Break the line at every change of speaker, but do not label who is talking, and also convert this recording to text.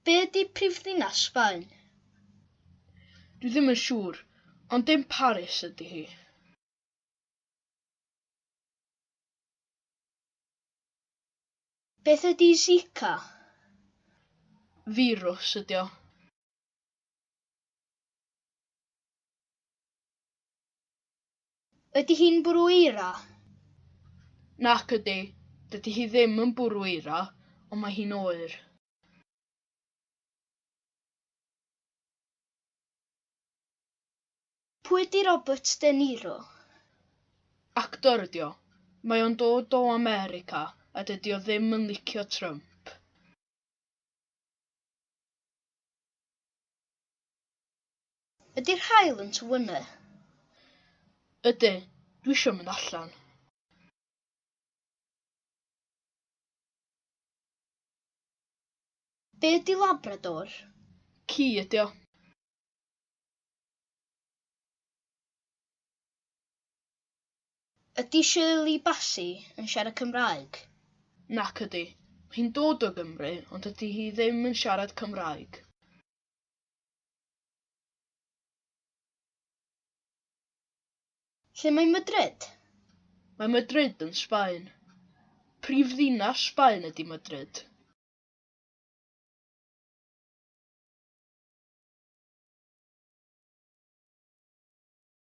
Be ydy prifddinas Sbaen? Dwi ddim yn siŵr, ond dim Paris ydy hi. Beth ydy Zika? Firws ydy o. Ydy hi'n bwrw eira? Nac ydy, dydy hi ddim yn bwrw eira, ond mae hi'n oer. Pwy ydy Robert De Niro? Actor ydy o. Mae o'n dod o America a dydy o ddim yn licio Trump. Ydy'r haul yn tŷ yna? Ydy, dwi eisiau mynd allan. Be ydi Labrador? Ci ydi o. Ydy Shirley Bassey yn siarad Cymraeg? Nac ydy. Mae hi'n dod o Gymru, ond dydy hi ddim yn siarad Cymraeg. Lle mae Madrid? Mae Madrid yn Sbaen. Prif ddinas Sbaen ydy Madrid.